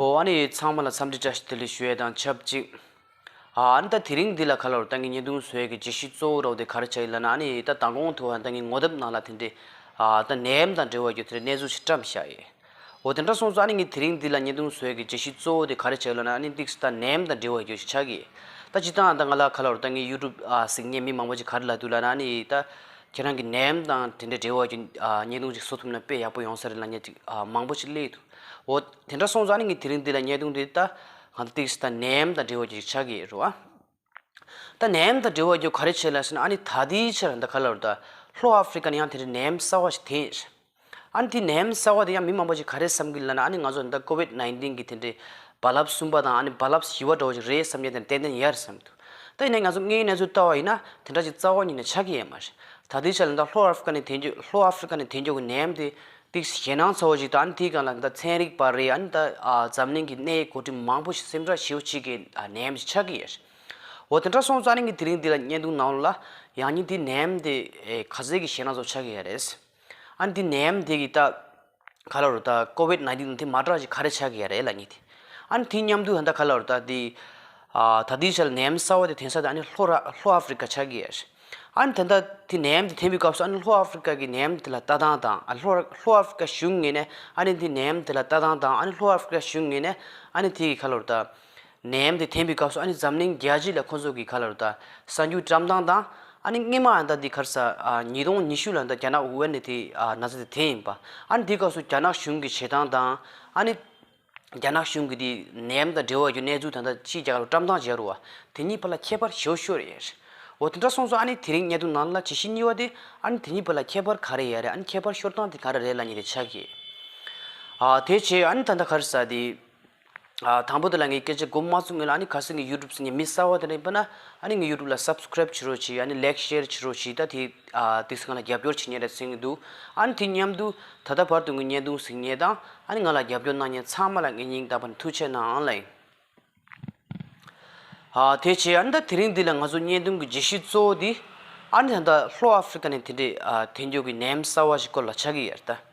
ཨོ་ཨ་ནི་ཚང་མ་ལ་འཚམས་འདྲི་བཀྲ་ཤིས་བདེ་ལེགས་ཞུ་ཡས་དང་ཆབས་ཅིག་ཨ་ཨ་ནི་ད་དེ་རིང་འདི་ལ་ག་ལོར་ད་ངི་ཉེ་དུང་ཟོས་ཀི་རྗེས་ཤིག་གཙོ་བོ་རོགས་དེ་ག་རེ་བྱ་ཡི་ལ་ན་ཨ་ནི་ད་ད་གོང་དུ་ཨ་ད་ངི་ངོ་དེབ་ནང་ལ་དེ་འདྲི་ཨ་ད་ནད་ཡམས་དང་འབྲེལ་བ་ཡོད་དེ་རེ་གནས་ཚུལ་ཞིག་བཀྲམས་བཞག་ཡས་ཨོ་དེ་འདྲ་སོང་ཚུ་ཨ་ནི་ངི་དེ་རིང་འདི་ལ་ཉེ་དུང་ཟོས་ཀི་རྗེས་ཤིག་གཙོ་བོ་དེ་ག་རེ་བྱ་ཡི་ལ་ན་ཨ་ནི་ཏིག་སི་ད་ནད་ཡམས་དང་འབྲེལ་བ་ཡོད་ཞིག་ཆག་གི་ཡས་ད་སྤྱི་ད་ཨ་ད་ང་ལ་ག་ལོར་ད་ངི་ཡུ་ཏུབ་ཨ་གཟིགས་ཉེ་མི་མང་པོ་ཅིག་ག་རེ་ལ་འདུག་ལ་ན་ཨ་ནི་ད། ཁྱེད་རང་གི་ནད་ཡམས་དང་དེ་འདྲའི་འབྲེལ་བ་ཀྱི་བརྙན་ཐུང་ཅིག་བཟོ་ཐུབ་ན་དཔེ་ཡག་པོ་ཡོང་ས་རེད་ལ་ཉེས་མང་པོ་ཅིག་སླེབས་འདུག་འོ་དེ་འདྲ་སོང་ཙང་ནི་ངས་དེ་རིང་འདི་ལ་བརྙན་ཐུང་འདི་ལྟ་གང་ལྟར་ཏིགས་སི་ནད་ཡམས་དང་འབྲེལ་བ་ཅིག་ཆགས་ཀྱི་རེད་བ། ད་ནད་ཡམས་དང་འབྲེལ་བ་ཀྱི་ག་རེ་བྱས་ལ་ཟེར་ན་ཨ་ནི་ད་དེའི་ཕྱིར་ད་ག་ལ་རུ་ད་ལྷོ་ཨ་ཧྥི་རི་ཀ་ནི་ཡང་དེ་འདྲའི་ནད་ཡམས་གསར་བ་ཞིག་དེངས། ཨ་ནི་དེ་ནད་ཡམས་གསར་བ་དེ་ཡང་མི་མང་པོ་ཞིག་ག་རེ་བསམ་གི་ལ་ན་ཨ་ནི་ང་ཚོ་འདི་ལྟར COVID nineteen གི་དེ་འདྲའི་རྦ་རླབས་གསུམ་པ་དང་ཨ་ནི་རྦ་རླབས་བཞི་བ་འགྲོ་བ་ཞིག་རེད་བསམ་མཁན་དེ་ཏན་ཏན་ཡོད་རེད་བསམ་འདུག་ད་ཡིན་ན་ང་ཚོ་ལྔའི་གནས་ཚུལ་ལྟ་བ་ཡིན་ན་དེ་འདྲ་ཞིག་རྩ་བ་ཉིད་ནས་ཆགས་ཀྱི་ཡོད་མ་རེད་ད་ལྟའི་ཆར་ལ་ད་ལྷོ་ཨ་ཧྥི་ཀ་ནས་དེ་འཇོག་ལྷོ་ཨ་ཧྥི་ཀ་ནས་དེ་འཇོག་གི་ནད་ཡམས་དེ་དེ་ཞེད་སྣང་ཚ་བོ་ཞིག་ད་ཨ་ནི་དེའི་སྒང་ལ་ད་ཚན་རིག་པ་རེད་ཨ་ནི་ད་འཛམ་གླིང་གི་གནས་ཡུལ་གོ་སྒྲིག་མང་པོ་ཞིག་སེམས་ཁྲལ་བྱེད་ཤེས་ཀྱི་ནད་ཡམས་ཞིག་ཆགས་ཀྱི་ཡོད་རེད་འོ་དེ་འདྲ་སོང་ཙང་ཨ་ནི་ངས་དེ་རིང་འདི་ལ་བརྙན་ཐུང་ནང་ལ་ཡང་སྙིང་དེའི་ནད་ཡམས་དེ་ག་ཟེ་གི་ཞེད་སྣང་ཚ་བོ་ཆགས་ཀྱི་ཡོད་རེད། ཨ་འདི་ནད་ཡམས་འདི་གི་ད་ག་ལ་རུ་ད་ཀོ་བིད་ནཱིན་ཏིན་དེ་མ་དྲག་ཅིག་ག་རེ་བྱ་གི་ཡ་རེད་ལ་ཉེ་དེ། ཨ་ནི་དེ་མཉམ་དུ་ད་ནི་ག་ལ་རུ་ད་དེ། ད་དེའི་ཆ་ལ་ནད་ཡམས་གསར་བ་དེ་དེང་སང་ད་ཨ་ནི་ལྷོ་ར་ལྷོ་ཨ་ཧྥི་རི་ཀ་བྱ་གི་ཡ་རེད། ཨ་ནི་ད་ལྟ་དེ་ནད་ཡམས་དེ་འཐེན་པའི་སྐབས་སུ་ཨ་ནི་ལྷོ་ཨ་ཧྥི་རི་ཀ་གི་ནད་ཡམས་དེ་ལ་ལྟ་སྟངས་དང་ཨ་ལྷོ་ར་ལྷོ་ཨ་ཧྥི་རི་ཀ་གཞུང་ངེས་ནས་ཨ་ནི་དེ་ནད་ཡམས་དེ་ལ་ལྟ་སྟངས་དང་ཨ་ནི་ལྷོ་ཨ་ཧྥི་རི་ཀ་གཞུང་ངེས་ནས་ཨ་ནི་དེ་གི་ག་ལ་རུ་ད། ནད་ཡམས་དེ་འཐེན་པའི་སྐབས་སུ་ཨ་ནི་འཛམ་གླིང་རྒྱལ་སྤྱི་ལ་ཁོ་ཚོ་གིས་ག་ལ་རུ་ད་ས་འགྱུར་བཀྲམ་སྟངས་དང། ཨ་ནི་སྔས་མ་ཨ་ད་དེ་གར་ས་ཉིས་སྟོང་ཉི་ཤུ་ལ་ད་རྒྱ་ནག་ཝུ་ཝན་ནས་དེ་ན་ཚ་དེ་འཐེན་ཡིན་པ། ཨ་ནི་དེ་སྐབས་སུ་རྒྱ་ནག་གཞུང་གིས་བྱེད་སྟངས་དང། ཨ་ནི། རྒྱ་ནག་གཞུང་གིས་དེ་ནད་ཡམས་དང་འབྲེལ་བ་ཡོད་གནས་ཚུལ་ད་ད་ཕྱིས་རྒྱ་གར་རུ་བཀྲམ་སྟངས་བྱ་རུ་བ་དེ་གཉིས་བར་ལ་ཁྱད་པར་ཞེའུ་ཤོ་རེད་ཡ་རེད། འོ་དེ་འདྲ་སོང་ཚོ་ཨ་ནི་དེ་རིང་གནད་དོན་ནང་ལ་ཇི་བཞིན་གཉིས་བ་དེ་ཨ་ནི་དེ་གཉིས་བར་ལ་ཁྱད་པར་ག་རེད་ཡ་རེད་ཨ་ནི་ཁྱད་པར་ཤོར་སྟངས་དེ་ག་རེ་རེད་ལ་ཉེ་རེ་ཆགས་ཀྱི། ཨ་དེ་བྱས་ཨ་ནི་ད་ད་གར་ས་དེ། དང་པོ་དེ་ལ་ངས་སྐད་ཆ་སྒོ་མ་གསུམ་ཡོད་ལ་ཨ་ཁ་སང་གི་ཡུ་ཏུབ་ནི་མི་གསར་བ་དེ་ལ་ཡིན་པ་ན་ཨ་ནི་ངའི་ཡུ་ཏུབ་ལ Subscribe བྱེད་རོགས་བྱོས་ཨ་ནི Like Share བྱེད་རོགས་བྱོས་ད་དེ་དེ་སང་ལ་རྒྱབ་སྐྱོར་བྱེད་ཉེ་རེད་གསུངས་ཀྱི་འདུག་ཨ་ནི་དེ་མཉམ་དུ་ད་ལྟ་བར་དུ་ངའི་བརྙན་ཐུང་གཟིགས་ཉེ་དང་ཨ་ནི་ང་ལ་རྒྱབ་སྐྱོར་གནང་ཉེ་ཚང་མ་ལ་ངས་སྙིང་ཐག་པ་ནས་ཐུགས་ཆེ་གནང་ཨང་ལེ། དེ་བྱས་ཨ་ནི་ད་དེ་རིང་འདི་ལ་ང་ཚོ་བརྙན་ཐུང་གི་རྗེས་ཤུལ་གཙོ་བོ་དེ་ཨ་ནི་ད་ལྟ་ལྷོ་ཨ་ཧྥི་རི་ཀ་ནས་དེ་འདྲའི་དེ་མགྱོགས་ཀྱི་ནམ་གསར་བ་ཞིག་སྐོར་ལ་ཆ་གི་ཡར་ལྟ།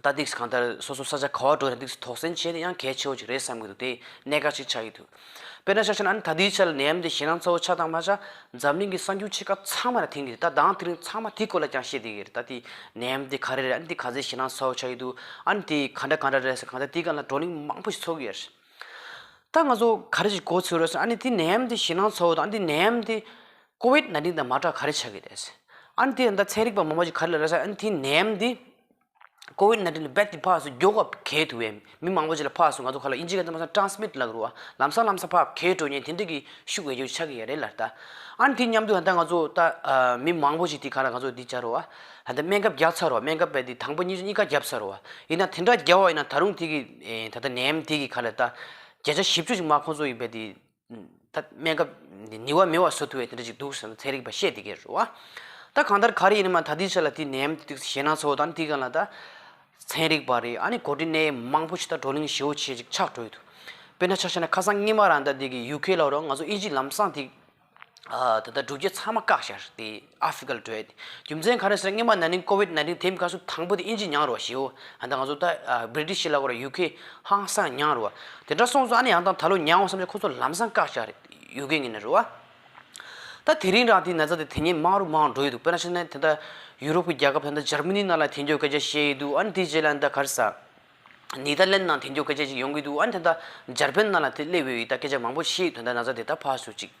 ད་ཏིག་གང་ལྟར་སོ་སོ་ས་ཆ་ག་བ་འགྲོ་ཡང་ཏིག་གིས་དོགས་ཟོན་བྱེད་ན་ཡང་གལ་ཆེ་བོ་ཅིག་རེད་བསམ་གྱི་འདུག་དེ་གནད་འགག་ཅིག་ཆགས་ཀྱི་འདུག་དཔེར་ན་ཆ་ཤས་ན་ད་ལྟའི་ཆར་ནད་ཡམས་འདི་ཞེད་སྣང་ཚ་བོ་ཆགས་སྟངས་མ་ཆགས་འཛམ་གླིང་གི་གསར་འགྱུར་ཆེ་ཁག་ཚང་མ་ལ་ཐིང་གི་རེད་ད་ལྡང་དེ་རིང་ཚང་མ་དེའི་སྐོར་ལ་ཀྱང་བཤད་དེ་གི་རེད་ད་དེ་ནད་ཡམས་དེ་ག་རེ་རེད་ཨ་ནི་དེ་ག་ཚད་ཞེད་སྣང་ཚ་བོ་ཆགས་ཀྱི་འདུག་ཨ་ནི་དེ་ག་འདྲ་ག་འདྲ་རེད་ཟེར་གང་ལྟར་དེའི་སྐབས་ལ་བགྲོ་གླེང་མང་པོ་ཞིག་ཚོགས་ཀྱི་ཡོད་རེད་ད་ང་ཚོ་ག་རེ་ཞིག་གོ་ཚོད་རོལ་སོང་ཨ་ནི་དེ་ནད་ཡམས་དེ་ཞེད་སྣང་ཚ་བོ་དང་ཨ་ནི་དེ་ནད་ཡམས་དེ། ཀོ་བིད་ནཱ་ཏིན་དང་མ་དྲག་ག་རེ་བྱ་གི་རེད། ཨན་དེ་ད་ཚན་རིག་པ་མང་པོ་ཞིག་ག་རེ་ལ་རེ་ས་ཨན་དེ་ནེམ་དེ། ཀོ་བིད་ནཱ་ཏིན་ལ་བད་དེ་ཕག་སོ་རྒྱོ་ཁབ་གས་ཐུ་བས་མི་མང་པོ་ཞིག་ལ་ཕག་སོ་ང་ཚོ་ཁ་ལ་ཨིན་ཇི་ག་ཚ་མ་ས་ཏྲང་སི་མིད་ལ་རུ་ཨ་ལམ་ས་ལམ་ས་ཕག་གས་འགྲོ་ཉེན་དེ་འདྲ་གི་ཤུག་བས་རྒྱོ་ཆ་གི་ཡ་རེད་ལ་ད། ཨན་དེ་མཉམ་དུ་ད་ང་ཚོ་ད་མི་མང་པོ་ཞིག་དེ་ག་ལ་ང་ཚོ་དེ་བྱ་རུ་ཨ་ད་སྨན་ཁབ་རྒྱག་ཚར་རུ་ཨ་སྨན་ཁབ་བད་དེ་དང་པོ་གཉིས་གཉིས་ཀ་བརྒྱབ་ཚར་རུ་ཨ་ཡིན་ན་དེ་འདྲ་བརྒྱབ་བ་ཡིན་ན་ད་རུང་དེ་གི་ད་ད་ནེམ་དེ་གི་ག་ལ་ད་བརྒྱ་ཆ་བཞི་བཅུ་ཞིག་མ་ཁོང་ཚོ་ཡི་བད་དེ་ད་སྨན་ཁབ་ནི་བ་མི་བ་སོ་ཐུ་བའི་དེ་འདྲ་ཅིག་འདུག་བསམ་ཚེ་རིག་པ་ཤེས་དེ་གས་རུ་བ། ད་གང་ལྟར་ག་རེ་ཡིན་ན་མ་ད་དེའི་ཆ་ལ་དེ་ནེམ་དུ་ཞེད་སྣང་ཚོ་དང་དེ་ག་ལ་ད། ཚན་རིག་པ་རེད་ཨ་ནི་གོ་དྲི་ནད་ཡམས་མང་པོ་ཞིག་ད་བགྲོ་གླེང་ཞེ་བོ་ཆེ་ཅིག་ཆགས་གྲོལ་དུ། དཔེར་ན་ཆ་ཤས་ན་ཁ་སང་སྔས་མ་རང་ད་དེ་གི་ཡུག་ཁའི་ལ་རོ་ང་ཚོ་ཨི་ཇི་ལམ་སང་དེ། ད་ད་གྲུབ་རྒྱལ་ཚང་མ་བཀག་ཤར་ཏེ། Article བྲོས། རྒྱུ་མཚན་གང་རེད་ཟེར་ན་སྔོན་མ་ན་ནིང COVID nineteen དེའི་སྐབས་སུ་དང་པོ་དེ་ཨིན་ཇི་ཉང་རུ་བ་ཞེའོ། ད་ང་ཚོ་ད། British ལ་བར UK ཧང་སང་ཉང་རུ་བ། དེ་འདྲ་སོང་ཚོ་ཨ་ནི་ཡང་དང་ད་ལོ་ཉང་བ་བསམ་ཚེ་ཁོ་ཚོ་ལམ་སང་བཀག་བྱ་རེད་ཡོད་གི་ངེས་ནི་རུ་བ། ད་དེ་རིང་རང་དེའི་ན་ཚ་དེ་དེ་ཉིན་མང་རུ་མང་འགྲོ་ཡི་འདུག་དཔེར་ན་ཕྱི་ནས་དེ་ད་ཡུ་རོབ་ཀྱི་རྒྱལ་ཁབ་ད་ནི་ཇར་མི་ནི་ནང་ལ་དེ་འགྱོ་སྐད་ཆ་བཤད་ཡི་འདུག་ཨ་ནི་དེའི་རྗེས་ལ་ད་གར་ས། ནི་ད་ལན་ནང་དེ་འགྱོ་སྐད་ཆ་ཅིག་ཡོང་གི་འདུག་ཨ་ནི་དེ་ད་ཇར་པན་ནང་ལ་དེ་སླེབས་ཡོད་ཡིད་ད་སྐད་ཆ་མང་པོ་བཤད་ཡི་དོན་ད་ན་ཚ་དེ་ད་ཕ་སུ་ཅིག།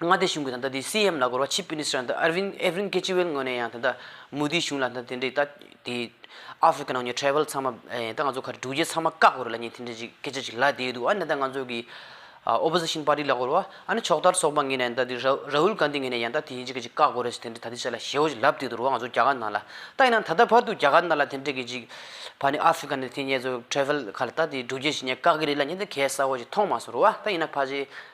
མངའ་སྡེ་གཞུང་གིས་ད་ལྟ་དེའི་སི་ཨེམ་ལ་གོ་ར་ཆིབ་མིནིས་ཏར་ཨར་ཝིན་ཨེ་ཝིན་ཀེ་ཅི་ཝེལ་ངོས་ནས་ཡང་ད་ལྟ་མུ་དྷིའི་གཞུང་ལ་ད་དེ་འདྲའི་ད་དེ་ཨ་ཧྥི་ཀ་ནང་གི་ཁྲལ་བལ་ཚང་མ་ད་ང་ཚོ་ག་རེ་འགྲུལ་སྐྱེལ་ཚང་མ་བཀག་དགོས་རེད་ལ་ཉིན་དེ་འདྲའི་ཅིག་སྐད་ཆ་ཅིག་ལབ་བསྡད་འདུག་ཨ་ནི་ད་ང་ཚོ་གི་ཨོ་པོ་ཟི་ཤིན་པཱ་ཏི་ལ་གོ་ར་ཨ་ནི་ཕྱོགས་མཐར་སོགས་པ་ངེས་ནས་ད་དེ་ར་ཧུལ་གྷན་དྷི་ངོས་ནས་ཡང་ད་དེ་ཡིན་ཅིག་གི་ཅིག་བཀག་དགོས་རེད་ཟེར་དེ་འདྲའི་ད་དེ་ཆ་ལ་ཞེའོ་ཅིག་ལབ་བསྡད་འདུག་རུང་ང་ཚོ་རྒྱ་གར་ནང་ལ་ད་ཡིན་ན་ད་ལྟ་བར་དུ་རྒྱ་གར་ནང་ལ་དེ་འདྲའི་གི་ཅིག་བ་ནི་ཨ་ཧྥི་ཀ་ནི་དེ་ངེད་ཚོ་ཁྲལ་བལ་ཁ་ལ་ད་དེ་འགྲུལ་སྐྱེལ་བྱེད་ཉེས་བཀག་གི་རེད་ལ་ཉིན་དེ་གས་ས་འོ་ཅིག་མཐོང་མ་སོང་རུང་ཨ་ད་ཡིན་ན་ཕ་ཆེ་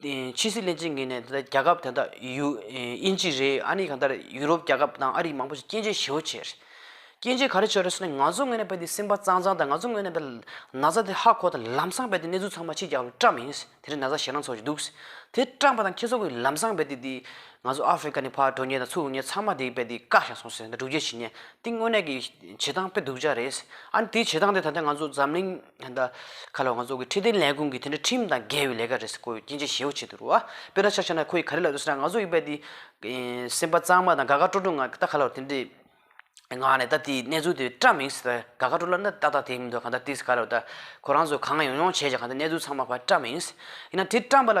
ཕྱི་སྲིད་བསླད་ཕྱིན་གྱིས་ནས་རྒྱལ་ཁབ་དེ་དག་དབྱིན་ཇི་རེད་ཨ་ནི་གང་ལྟར་ཡུ་རོབ་རྒྱལ་ཁབ་དང་ཨ་རིག་མང་པོ་ཞིག་སྐྱེ་འཆི་ཞི་བོ་བྱས་རེད། སྐྱེ་འཆི་ག་རེ་བྱས་རེད་ཟེར་ནས་ང་ཚོ་ངོས་ནས་བལྟས་ཏེ་སེམས་པ་གཙང་གཙང་དང་ང་ཚོ་ངོས་ནས་བལྟས་ན་བཟའ་དེ་ཧ་གོ་དང་ལམ་སང་བལྟས་ཏེ་གནས་ཚུལ་ཚང་མ་ཕྱི་རྒྱལ་ཁབ་ཀྱི་བཀྲམ་མིན་དེ་རིང་ན་བཟའ་ཞེ་ན་འཚོ་བཞིན་འདུག་དེ་བཀྲམ་པ་དང་ཁྱེད་ཚོ་གིས་ལམ་སང་བལྟས་ཏེ་ང་ཚོ་ཨ་ཧྥེ་གྷ་ནི་ཕ་གྲོ་ཉལ་དང་ཚུར་འུར་ཉལ་ཚང་མ་དེ་བལྟས་ཏེ་བཀག་བཞག་སོང་ཟེར་ན་སྒྲུབ་བྱེད་བྱེད་ཉལ་དེ་དངོས་གནས་ཀྱི་བྱེད་སྟངས་དཔེ་སྡུག་ཅག་རེད། ཨ་ནི་དེའི་བྱེད་སྟངས་དེ་ད་ལྟ་ང་ཚོ་འཛམ་གླིང། ཉི་ཟླ། ཁ་ལོ་ང་ཚོ་གི་ཁྲི་སྟེང་ལས་ཁུངས་ཀྱི་དེ་འདྲ་ཁྲིམས་དང་འགལ་བའི་ལས་ཀ་རེད་ཟེར་དགོས་ཡོད་སྐྱིན་ཆེ་ཞེའུ་བྱེད་དུ་རུ་བ། དཔེར་ན་ཆ་ཆ་ན་ཁོ་ཡིས་ག་རེ་ལབ་ཡོད་ཟེར་ན་ང་ཚོ་ཡིས་པད་དེ། སེམས་པ་གཙང་མ་དང་དགའ་དགའ་སྤྲོ་སྤྲོ་ངང་ད་ག་ལ་རུ་དེ་འདྲའི། ངང་ནས་ད་དེའི་གནས་ཚུལ་དེ་བཀྲ་མི་ཤིས་ད་དགའ་དགའ་སྤྲོ་སྤྲོ་ལ་ན་ཏག་ཏག་དེ་མི་འདུག་ག་ད་དེ་ག་ལ་རུ་ད་ཁོ་རང་ཚོ་གང་ཡོང་ཡོང་བྱས་ཀྱང་ག་ད་གནས་ཚུལ་ཚང་མ་བར་བཀྲ་མི་ཤིས། ཡིན་ན་དེ་བཀྲ་མ་ལ།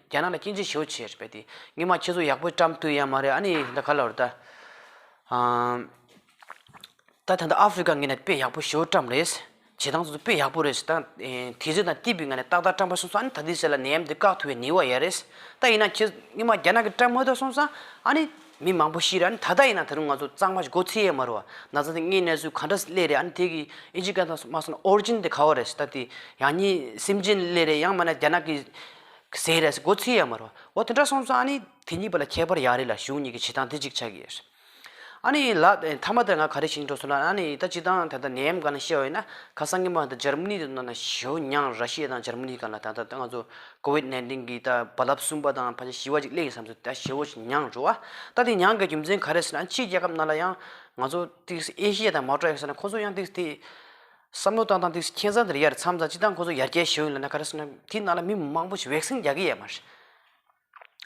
རྒྱ་ནག་ལ་སྐྱིན་ཆེ་ཞུ་ཆེ་རེད་པས་དེ། སྔོན་མ་ཁྱེད་ཚོ་ཡག་པོའི་བཀྲམས་དུས་ཡ་མ་རེད་ཨ་ནི་ད་ག་ལ་རེད་ད། ད་ད་ནི་ཨ་ཧྥེ་རི་ཀ་ངེད་ནས་དཔེ་ཡག་པོ་ཞུ་བཀྲམས་རེད། བྱེད་སྟངས་སོ་སོ་དཔེ་ཡག་པོ་རེད་བྱེད་སྟངས། དེ་ཚོས་དང་ཏི་པི་ང་ནས་ཏག་ཏག་བཀྲམས་པ་སོང་ས་ཨ་ནི་ད་དེ་ཟེར་ལ་ནད་ཡམས་འདི་བཀག་ཐུབ་པའི་ནི་བ་ཡ་རེད། ད་ཡིན་ན་ཁྱེད་ཚོ་སྔོན་མ་རྒྱ་ནག་གི་བཀྲམས་ཧོས་ཐོས་སོང་ས་ཨ་ནི་མི་མང་པོ་ཤི་རེད་ཨ་ནི་ད་ལྟ་ཡིན་ན་ད་རུང་ང་ཚོ་གཙང་མ་ཞིག་སྒོ་ཚིགས་ཡ་མ་རུ་བ། ན་ཚ་དེ་ལྔའི་གནས་ཚུལ་ག་འདྲ་སླེ་རེད་ཨ་ནི་དེ་གི་ཨི་ཇི་ཀ་ད་སོ་མ་སོང་ཨོར་ཇིན་དེ་ག་བ་རེད་ད་དེ། ཡང་གཉིས་སིམ་ཇིན་སླེ་རེད་ཡང་མ་ན་རྒྱ་ནག་གི། ཟེར་རེད། སྒོ་ཚིག་ཡ་མ་རོ། འོ་དེ་འདྲ་སོང་ཙང་ཨ་ནི་དེ་གཉིས་པ་ལ་ཁྱད་པར་ཡག་རེད་ལ་གཞུང་གཉིས་ཀྱི་བྱེད་སྟངས་དེ་གཅིག་ཆགས་ཀྱི་ཡོད། ཨ་ནི་ལགས། མཐའ་མ་དེར་ང་ག་རེ་བྱེད་ཀྱིན་འགྲོ་སོང་ལ་ཨ་ནི་ད་སྤྱི་དང་ད་ལྟ་ནད་ཡམས་གང་ན་ཤེས་བ་ཡོད་ན་ཁ་སང་གི་མ་ད་འཇར་མ་ནི་དུ་ན་ན་ཞོ་མྱང་ར་ཤེ་དང་འཇར་མ་ནི་གང་ལ་ད་ད་ད་ང་ཚོ་ཀོ་བིད་ནན་ཏིན་གྱི་ད་རྦ་རླབས་གསུམ་པ་དང་ཕ་ཆ་བཞི་བ་ཅིག་སླེབས་ཡིན་བསམ་ཚུལ་ད་ཞེ་བོ་ཞིག་མྱང་འགྲོ་ཨ་ད་དེ་མྱང་དགའི་རྒྱུ་མཚན་ག་རེ་ཟེར་ན་ཕྱིའི་རྒྱལ་ཁབ་ནང་ལ་ཡང་ང་ཚོ་ཏིག་སི་ཨེ་ཤེ་ཡ་དང་མའོ་ཀྲ་ཡོད་ས་ན་ཁོ་ཚོ་ཡང་ཏིག་སི་ཏིག་བསམ་བློ་བཏང་བཏང་དུས་ཁྱེད་ཚང་འདིར་ཡར་མཚམས་དང་སྤྱི་བཏང་ཁོ་ཚོ་ཡར་རྒྱས་ཞུ་ཡོང་ལེ་ན་ག་རེ་བསམ་ན་དེའི་ནང་ལ་མི་མང་པོ་ཞིག་བེག་སེན་རྒྱག་གི་ཡས་མ་རེད།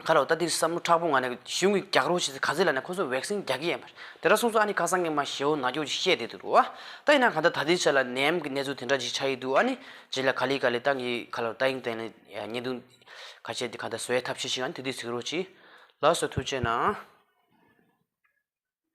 ཁ་ལོ་ད་འདིར་བསམ་བློ་ཁྲག་པོ་ང་ནས་གཞུང་གི་རྒྱག་རོགས་བྱེད་ཚེ་ག་ཚོད་ལ་ནས་ཁོ་ཚོ་བེག་སེན་རྒྱག་གི་ཡས་མ་རེད་དེ་འདྲ་གསུངས་སོང་ཨ་ནི་ཁ་སང་ངས་མ་ཞེ་བོ་ནག་ཀྱོག་ཅིག་བཤད་བསྡད་འདུག་རོ་ཨ། ད་ཡིན་ན་ག་ད་ད་ལྟའི་ཆ་ལ་ནད་ཡམས་ཀྱི་གནས་ཚུལ་དེ་འདྲ་ཞིག་ཆགས་ཡི་འདུག་ཨ་ནི། རྗེས་ལ་ག་ལི་ག་ལི་ཏང་གི་ཁ་ལོ་ཏཱ་ཨིང་ཏན་ལི་ཉེས་རྡུང། ཁ་ཆད་དེ་ག་ད་བཟོ་ཡས་ཐབས་ཤེས་ཤིག་ཨ་ནི་དེ་དུས་གཟིགས་རོགས་གྱིས། ལགས་སོ་ཐུགས་ཆེ་གནང།